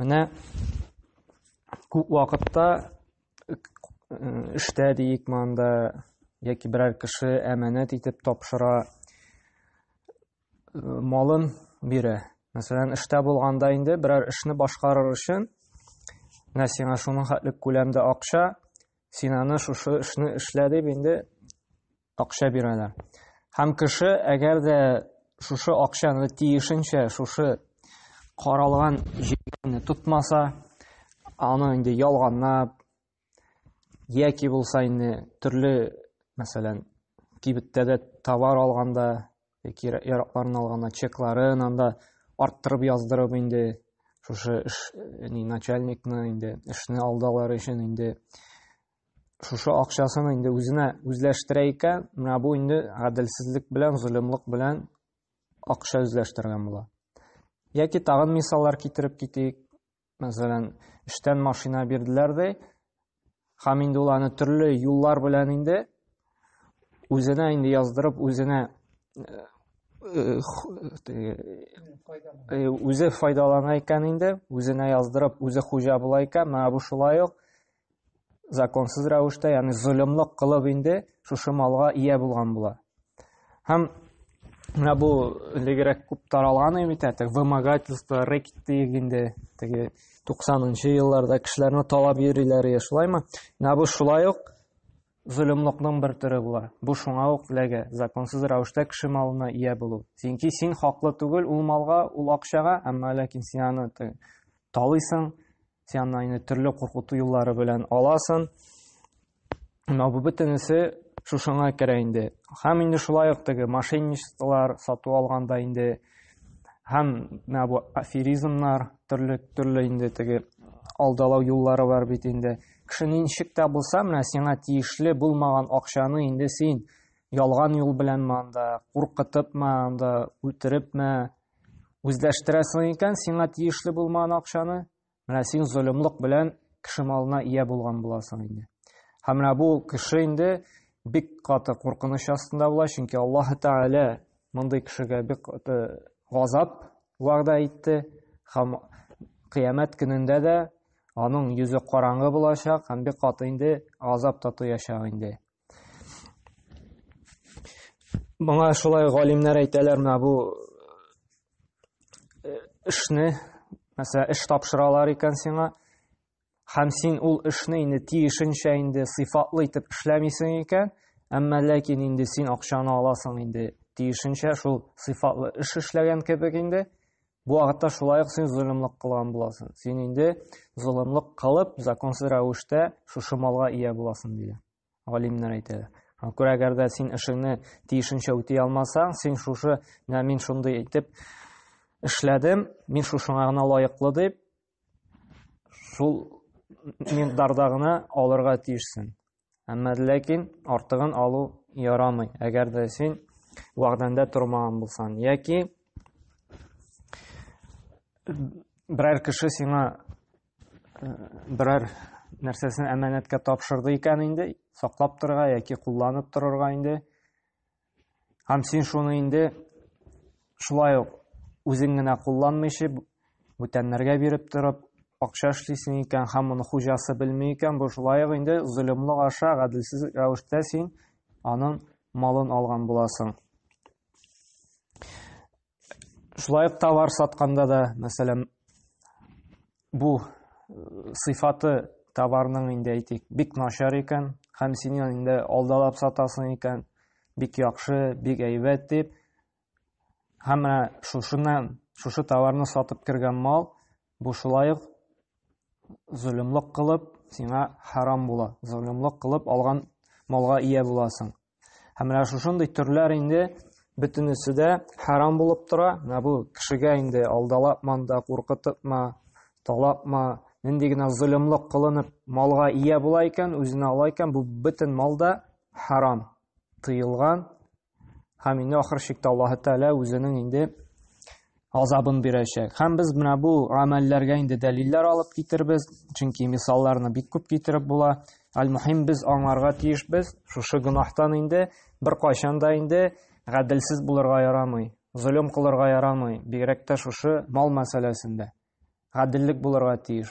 Менә күп вакытта э, эштә диик монда яки берәр кеше әманәт итеп тапшыра э, малын бирә. Мәсәлән, эштә булганда инде берәр эшне башкарыр өчен менә сиңа шуның хәтлек күләмдә акча, син аны шушы эшне эшлә дип инде акча бирәләр. Һәм кеше, әгәр дә шушы акчаны тиешенчә шушы каралган җирне тотмаса, аны инде ялганлап яки булса инде төрле, мәсәлән, кибеттәге товар алганда яки яракларын алганда чекларын анда арттырып яздырып инде шушы эш, начальникны инде эшне алдалар өчен инде шушы акчасын инде үзенә үзләштерә икән, менә бу инде гаделсезлек белән, золымлык белән акча үзләштергән була. Яки тагын мисаллар китереп китик. Мәсәлән, эштән машина бирделәр ди, һәм инде ул аны төрле юллар белән инде үзенә инде яздырып, үзенә үзе файдалана икән инде, үзенә яздырып, үзе хуҗа була икән, менә бу шулай ук законсыз рәвештә, ягъни золымлык кылып инде шушы малга ия булган була. Һәм менә бу элегрәк күп таралган бит әле вымогательство, рейд дип инде теге 90-нчы елларда кешеләрне талап йөриләр иде, шулаймы? Менә бу шулай ук золымлыкның бер төре була. Бу шуңа ук ләгә, законсыз рәвештә кеше малына ия булу. Чөнки син хаклы түгел ул малга, ул акчага, әмма ләкин син аны талыйсың, Син аны инде төрле куркыту юллары белән аласың. Менә бу бөтенесе шушыңа керә инде. Һәм инде шулай ук теге мошенничестволар сату алганда инде һәм менә бу аферизмнар, төрле төрле инде теге алдалау юллары бар бит инде. Кеше ничек тә булса, менә сиңа тиешле булмаган акчаны инде син ялган юл белән манда, куркытыпмы, анда үтерепме, Үзләштерәсең икән, сиңа тиешле булмаган акчаны, менә син золымлык белән кеше малына ия булган буласың инде. Һәм менә бу кеше инде бик каты куркыныч астында була, чөнки Аллаһ Тәгалә мондый кешегә бик каты газап вәгъдә итте һәм кыямәт көнендә дә аның йөзе караңгы булачак һәм бик каты инде газап та тоячак инде. Моңа шулай галимнәр әйтәләр, менә бу э, эшне, мәсәлән, эш тапшыралар икән сиңа, һәм син ул эшне инде тиешенчә инде сыйфатлы итеп эшләмисең икән, әмма ләкин инде син акчаны аласың инде тиешенчә шул сыйфатлы эш эшләгән кебек инде, Бу вакытта шулай ук син золымлык кылган буласың. Син инде золымлык кылып, законсыз рәвештә шушы малга ия буласың, диде. Галимнәр әйтәләр. Шуңа күрә әгәр дә син эшеңне тиешенчә үти алмасаң, син шушы, менә мин шундый итеп эшләдем, мин шушыңа гына лаеклы дип, шул миндарда гына алырга тиешсең. Әмма ләкин артыгын алу ярамый, әгәр дә син вәгъдәңдә тормаган булсаң, яки берәр кеше сиңа э, берәр нәрсәсен әманәткә тапшырды икән инде, саклап торырга яки кулланып торырга инде, Һәм син шуны инде шулай ук үзең генә кулланмыйча, бүтәннәргә биреп торып, акча эшлисең икән һәм моны хуҗасы белми икән, бу шулай ук инде золымлык аша, гаделсез рәвештә син аның малын алган буласың. Шулай ук товар сатканда да, мәсәлән, бу э, сыйфаты товарның инде әйтик, бик начар икән, һәм син инде алдалап сатасың икән, бик яхшы, бик әйбәт дип, һәм менә шушыннан, шушы товарны сатып кергән мал, бу шулай ук зөлемлек кылып, сиңа харам була. Зөлемлек кылып алган малга ия буласың. Һәм менә шушындый төрләр инде бөтенесе дә харам булып тора. Менә бу кешегә инде алдалапма да, куркытыпма, талапма, нинди генә золымлык кылынып малга ия була икән, үзенә ала икән, бу бөтен мал да харам, тыелган. Һәм инде ахыр чиктә Аллаһы Тәгалә үзенең инде азабын бирәчәк. Һәм без менә бу гамәлләргә инде дәлилләр алып китербез, чөнки мисалларны бик күп китереп була. Аль-мухим без аңларга тиеш без, шушы гөнаһтан инде бер кайчан да инде гаделсез булырга ярамый, золым кылырга ярамый, бигрәк тә шушы мал мәсьәләсендә. Гаделлек булырга тиеш.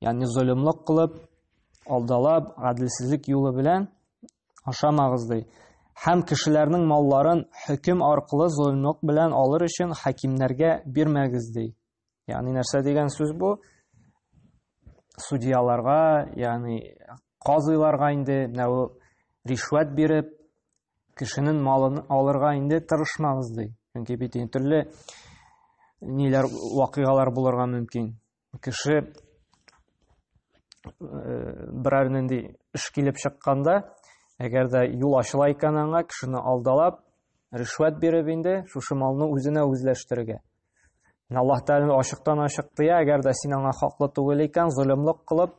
Ягъни золымлык кылып, алдалап, гаделсезлек юлы белән ашамагыз ди. Һәм кешеләрнең малларын хөкем аркылы золымлык белән алыр өчен хакимнәргә бирмәгез ди. Ягъни нәрсә дигән сүз бу? Судьяларга, ягъни казыйларга инде менә ришвәт биреп, кешенең малын алырга инде тырышмагыз ди. Чөнки бит төрле ниләр вакыйгалар булырга мөмкин. Кеше э, берәр нинди эш килеп чыкканда, әгәр дә юл ачыла икән аңа, кешене алдалап, ришвәт биреп инде шушы малны үзенә үзләштерергә. Аллаһ Тәгалә ачыктан ачык тыя, әгәр дә син аңа хаклы түгел икән, золымлык кылып,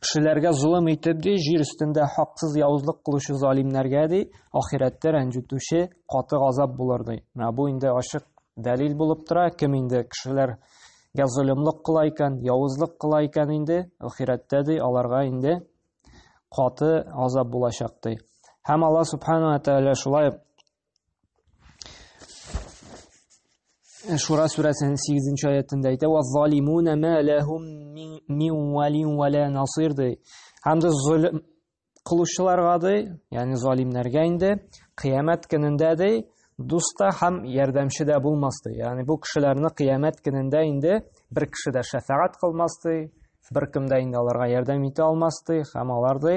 Кешеләргә золым итеп, ди, җир өстендә хаксыз явызлык кылучы залимнәргә, ди, ахирәттә рәнҗетүче каты газап булыр, ди. Менә бу инде ачык дәлил булып тора, кем инде кешеләргә золымлык кыла икән, явызлык кыла икән инде, ахирәттә, ди, аларга инде каты газап булачак, ди. Һәм Аллаһ Субхану ва Тәгалә шулай Шура сүрәсенең 8 аятында әйтә, "Ва залимуна ма лахум мин валин ва ла насир" ди. Һәм дә зулм кылучыларга ди, ягъни залимнәргә инде кыямәт көнендә ди, дуста һәм ярдәмче дә булмас ди. Ягъни бу кешеләрне кыямәт көнендә инде бер кеше дә шәфәгать кылмас ди, бер кем дә инде аларга ярдәм итә алмас ди, һәм алар ди,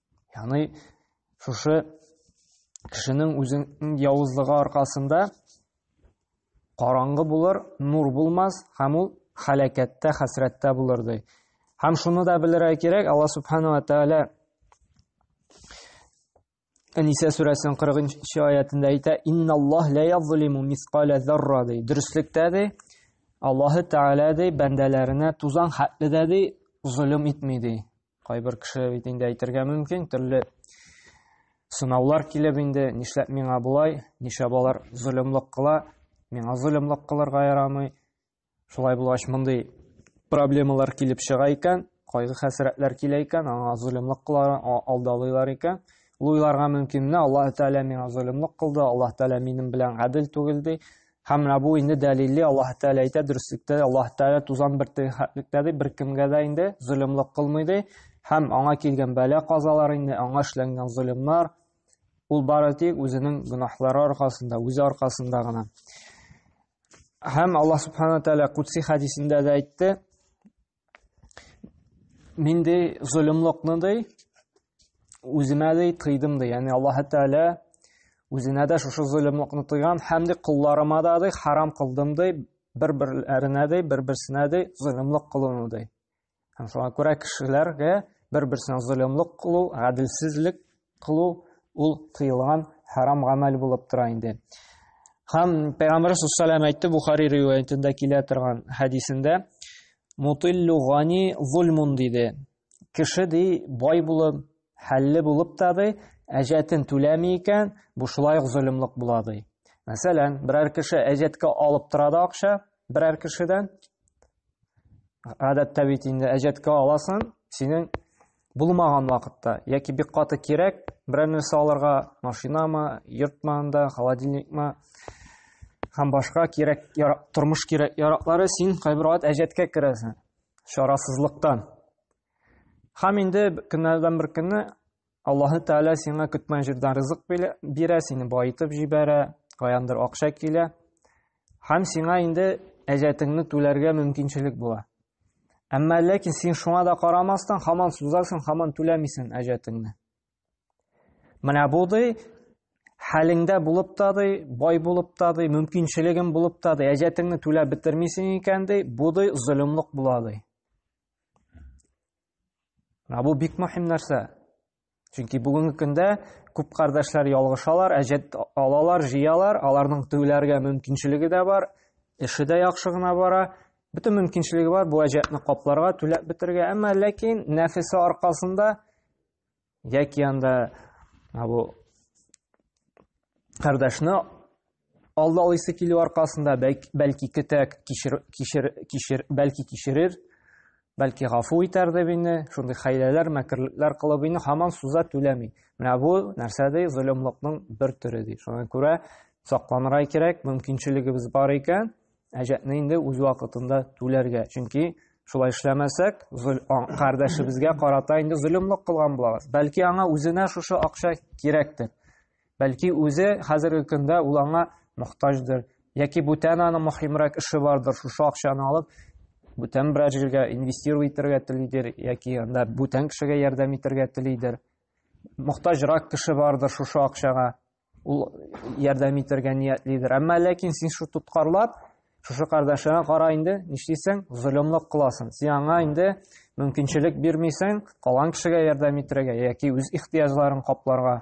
Яны шушы кешенең үзен явызлыгы аркасында караңгы булыр, нур булмас, һәм ул халәкәттә, хәсрәттә булыр ди. Һәм шуны да белергә кирәк, Алла субхана ва тәгалә Әнисә сүрәсенең 40-нчы аятында әйтә, "Инналлаһ ла язлиму мисқала зарра" ди. Дөреслектә ди, Аллаһы Тәгалә ди, бәндәләренә тузан хәтле дә ди, золым итми ди. Кайбер кеше бит инде әйтергә мөмкин, төрле сынаулар килеп инде, нишләп миңа болай, нишләп балар золымлык кыла, миңа золымлык кылырга ярамый. Шулай булгач, мондый проблемалар килеп чыга икән, кайгы хәсрәтләр килә икән, аңа золымлык кылар, алдалыйлар икән. Ул уйларга мөмкин, менә Аллаһ Тәгалә миңа золымлык кылды, Аллаһ Тәгалә минем белән гадел түгел ди. Һәм менә бу инде дәлилле Аллаһ Тәгалә әйтә дөреслектә, Аллаһ Тәгалә тузан бер тәхәтлектә ди, бер кемгә дә инде зөлемлек кылмый ди. Һәм аңа килгән бәла казалар инде, аңа эшләнгән зөлемнар ул бары тик үзенең гөнаһлары аркасында, үзе аркасында гына. Һәм Аллаһ Субхану Тәгалә Кудси хәдисендә дә әйтте, мин ди золымлыкны ди үземә ди тыйдым ди яғни аллаһы тәғәлә үзенә дә шушы золымлыкны тыйган һәм ди колларыма да ди харам кылдым ди бер берләренә ди бер берсенә ди золымлык кылуны ди һәм шуңа күрә кешеләргә бер берсенә золымлык кылу гаделсезлек Кылу ул тыелган харам гамәл булып тора инде. Һәм Пәйгамбәр саллаллаху алейһи әйтте Бухари риваятендә килә торган хәдисендә мутиллу гани зулмун диде. Кеше ди бай булып, хәлле булып та ди, әҗәтен түләми икән, бу шулай ук золымлык була ди. Мәсәлән, берәр кеше әҗәткә алып тора да акча берәр кешедән. Гадәттә бит инде әҗәткә аласың, синең булмаган вакытта яки бик каты кирәк берәр нәрсә алырга машинамы йортмы анда холодильникмы һәм башка кирәк ярак, тормыш кирәк яраклары син кайбер вакыт әҗәткә керәсең чарасызлыктан һәм инде көннәрдән бер көнне аллаһы тәғәлә сиңа көтмәгән җирдән ризык бирә сине баетып җибәрә каяндыр акча килә Һәм сиңа инде әҗәтеңне түләргә мөмкинчелек була. Әмма ләкин син шуңа да карамастан хаман сузасың, хаман түләмисең әҗәтеңне. Менә бу ди хәлеңдә булып та ди, бай булып та ди, мөмкинчелегең булып та ди, әҗәтеңне түләп бетермисең икән ди, бу ди зөлемлек була ди. Менә бу бик мөһим нәрсә. Чөнки бүгенге көндә күп кардәшләр ялгышалар, әҗәт алалар, җыялар, аларның түләргә мөмкинчелеге дә бар, эше дә яхшы гына бара, бөтен мөмкинчелеге бар бу әҗәтне капларга, түләп бетергә, әмма ләкин нәфесе аркасында яки анда бу кардәшне Алда алыйсы килү аркасында бәлки көтәк кишер, кишер, кишер, бәлки кишерер, бәлки гафу итәр дип инде, шундый хәйләләр, мәкерлекләр кылып инде һаман суза түләми. Менә бу нәрсә ди, золымлыкның бер төре ди. Шуңа күрә сакланырга кирәк, мөмкинчелегебез бар икән, әҗәтне инде үз вакытында түләргә. Чөнки шулай эшләмәсәк, кардәшебезгә карата инде золымлык кылган булабыз. Бәлки аңа үзенә шушы акча кирәктер. Бәлки үзе хәзерге көндә ул аңа мохтаҗдыр, яки бүтән аның мөһимрәк эше бардыр, шушы акчаны алып, бүтән берәр җиргә инвестировать итәргә телидер, яки анда бүтән кешегә ярдәм итәргә телидер. Мохтаҗрак кеше бардыр шушы акчага, ул ярдәм итәргә ниятлидер. Әмма ләкин син шу тоткарлап, шушы кардәшеңә кара инде, нишлисең, золымлык кыласың. Син аңа инде мөмкинчелек бирмисең, калган кешегә ярдәм итәргә, яки үз ихтыяҗларын капларга.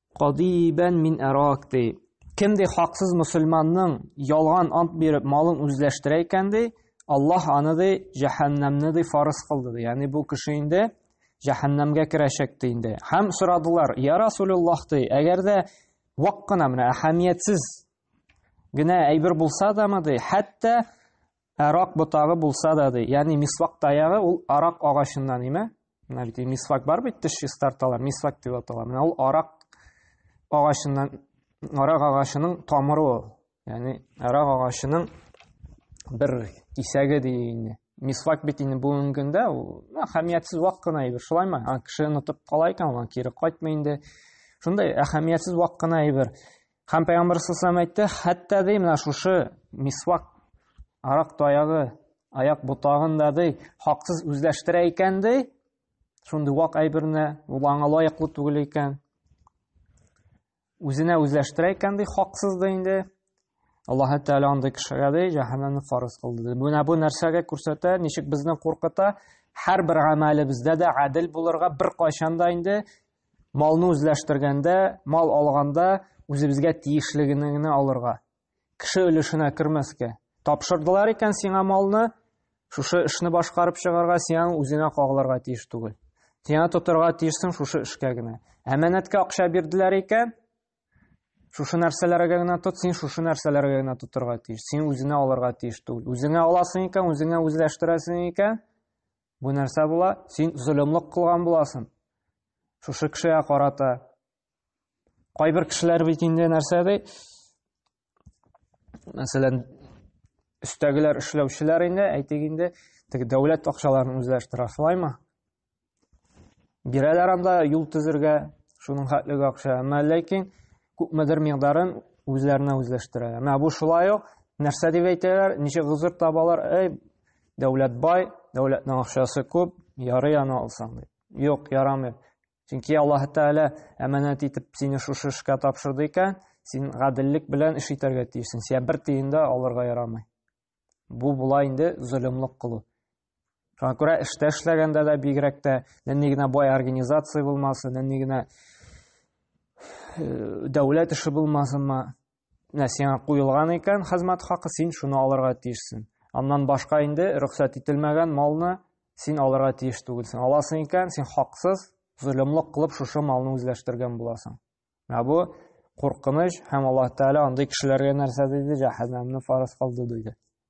Кадибән мин әрак, ди. Кем ди хаксыз мөселманның ялган ант биреп малын үзләштерә икән, ди, Аллаһ аны ди җәһәннәмне ди фарыз кылды, ди. Ягъни бу кеше инде җәһәннәмгә керәчәк ди инде. Һәм сорадылар, я Расулуллаһ, ди, әгәр дә вак кына менә әһәмиятсез генә әйбер булса да, ди, хәтта Арак ботагы булса да, ди. Ягъни мисвак таягы ул арак агачыннан, име? Менә бит мисвак бар бит, теш чистарталар, мисвак дип атала. Менә ул арак агачыннан, арак агачының тамыры ул. Ягъни арак агачының бер кисәге ди инде. Мисвак бит инде бүгенге көндә ул әһәмиятсез вак кына әйбер, шулаймы? Кеше онытып кала икән, ул кире кайтмый инде. Шундай әһәмиятсез вак кына әйбер. Һәм пәйгамбәр саллаллаху әйтте, хәтта ди менә шушы мисвак арак таягы аяк ботагын да ди хаксыз үзләштерә икән ди. Шундый вак әйберне ул аңа лаеклы түгел икән. Үзенә үзләштерә икән ди хаксыз да инде. Аллаһ Тәгалә андый кешегә ди җәһәннәмне фарыз кылды. Менә бу нәрсәгә күрсәтә, ничек безне куркыта? Һәр бер гамәлебездә дә гадел булырга, бер кайчан да инде Малны үзләштергәндә, мал алганда үзебезгә тиешлегене генә алырга. Кеше өлешенә кермәскә. Тапшырдылар икән сиңа малны, шушы эшне башкарып чыгарга, сиңа үзеңә кагылырга тиеш түгел. Сиңа тотырга тиешсең шушы эшкә генә. Әманәткә акча бирделәр икән, шушы нәрсәләргә генә тот, син шушы нәрсәләргә генә тотырга тиеш. Син үзеңә алырга тиеш түгел. Үзеңә аласың икән, үзеңә үзләштерәсең икән, Бу нәрсә була? Син зөлемлек кылган буласың. Шушы кешегә карата. Кайбер кешеләр бит инде нәрсә ди? Мәсәлән, өстәгеләр эшләүчеләр инде, әйтик инде, теге дәүләт акчаларын үзләре штрафлаймы? Бирәләр анда юл төзергә шуның хәтлеге акча, әмма ләкин күпмедер мигдарын үзләренә үзләштерәләр. Менә бу шулай ук нәрсә дип әйтәләр, ничек гозер табалар, әй, Дәүләт бай, дәүләтнең акчасы күп, ярый аны алсаң ди. Юк, ярамый. Чөнки Аллаһ Тәгалә әманәт итеп сине шушы эшкә тапшырды икән, син гаделлек белән эш итәргә тиешсең. Сиңа бер тиен дә алырга ярамый. Бу була инде зөлемлек кылу. Шуңа күрә эштә эшләгәндә дә бигрәк тә нинди генә бай организация булмасын, нинди генә э, дәүләт эше булмасынмы, Менә сиңа куелган икән хезмәт хакы, син шуны алырга тиешсең. Аннан башка инде рөхсәт ителмәгән малны син алырга тиеш түгелсең. Аласың икән, син хаксыз, золымлык кылып шушы малны үзләштергән буласың. Менә бу куркыныч һәм Аллаһ Тәгалә андый кешеләргә нәрсә диде? Җәһәннәмне фарыз кылды диде.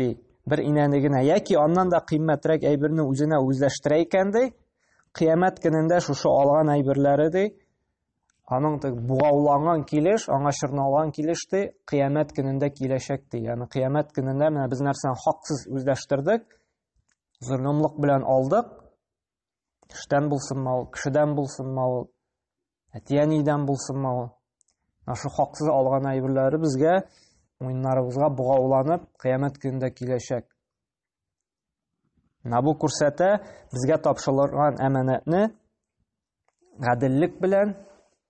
ди бер инәне генә яки аннан да кыйммәтрәк әйберне үзенә үзләштерә икән ди кыямәт көнендә шушы алган әйберләре ди аның бугауланган килеш аңа чорналган килеш ди кыямәт көнендә киләчәк ди яғни кыямәт көнендә менә без нәрсәне хаксыз үзләштердек золымлык белән алдык Төштән булсынмы ул, кешедән булсынмы ул, әтиәнидән булсынмы ул. Нашу хаксыз алган әйберләре безгә муеннарыбызга богауланып, кыямәт көнендә киләчәк. Менә бу күрсәтә безгә тапшырылган әманәтне гаделлек белән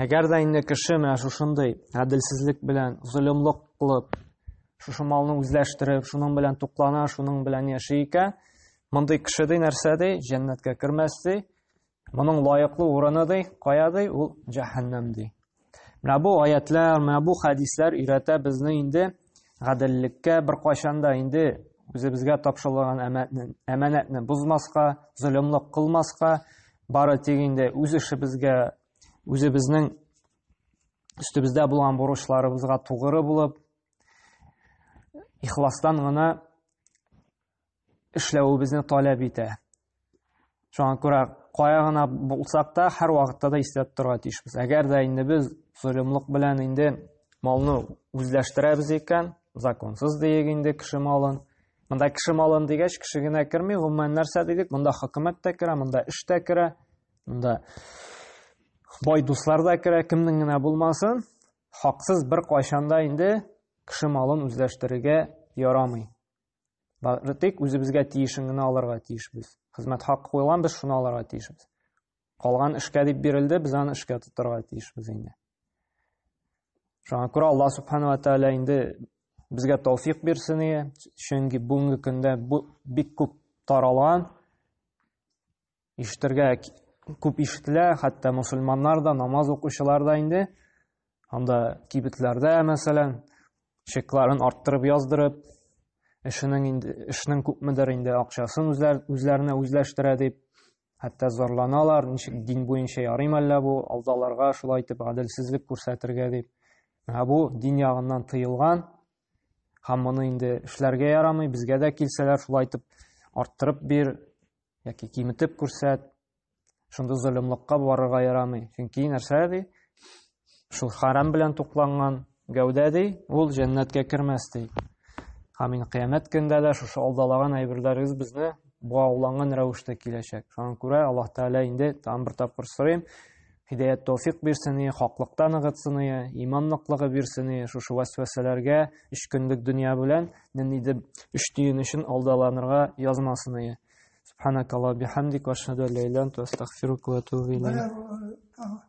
Әгәр дә инде кеше менә шушындый гаделсезлек белән, золымлык кылып, шушы малны үзләштереп, шуның белән туклана, шуның белән яши икән, мондый кеше ди нәрсә ди, җәннәткә кермәс ди, моның лаеклы урыны ди, кая ди, ул җәһәннәм ди. Менә бу аятлар, менә бу хәдисләр өйрәтә безне инде гаделлеккә бер кайчанда инде үзебезгә тапшырылган әманәтне бозмаска, золымлык кылмаска, Бары тик инде үз эшебезгә, үзебезнең өстебездә булган бурычларыбызга тугры булып, ихластан гына эшләвебезне таләп итә. Шуңа күрә кая гына булсак та, һәр вакытта да истә торырга тиешбез. Әгәр дә инде без золымлык белән инде малны үзләштерәбез икән, законсыз диек инде кеше малын, Монда кеше малын дигәч, кеше генә керми, гомумән нәрсә дидек? Монда хөкүмәт тә керә, монда эш тә керә, монда бай дуслар да керә, кемнең генә булмасын, хаксыз бер кайшанда инде кеше малын үзләштерергә ярамый. Бары тик үзебезгә тиешен генә алырга тиешбез. Хезмәт хакы куелган, без шуны алырга тиешбез. Калган эшкә дип бирелде, без аны эшкә тотарга тиешбез инде. Шуңа күрә Аллаһ субхану ва тааля инде безгә тауфик бирсен иде, чөнки бүгенге көндә бу бик күп таралган, ишетергә күп ишетелә, хәтта мусульманнар да, намаз укучылар да инде, анда кибетләрдә, мәсәлән, чекларын арттырып яздырып, эшенең инде эшнең күпмедер инде акчасын үзләр, үзләренә үзләштерә дип, Хәтта зарланалар, ничек дин буенча ярыйм әллә бу, алдаларга шулай итеп гаделсезлек күрсәтергә дип. Ә бу дин ягыннан тыелган, һәм моны инде эшләргә ярамый, безгә дә килсәләр шулай итеп арттырып бир, яки киметеп күрсәт, шунда золымлыкка барырга ярамый. Чөнки нәрсә ди? Шул харам белән тукланган гәүдә ди, ул җәннәткә кермәс ди. Амин. Кыямәт көндә дә шушы алдалаган әйберләрегез безне буауланган рәвештә киләчәк. Шуңа күрә Аллаһ Тәгалә инде тагын бер тапкыр сорыйм, хидәят тәүфик бирсен, хаклыкта ныгытсын, иман ныклыгы бирсен, шушы вәсвәсәләргә өч көнлек дөнья белән нинди дип өч тиен өчен алдаланырга язмасын. Субханакалла бихамдик ва ашһаду ла иляха илля анта астагфирука ва атубу илейк.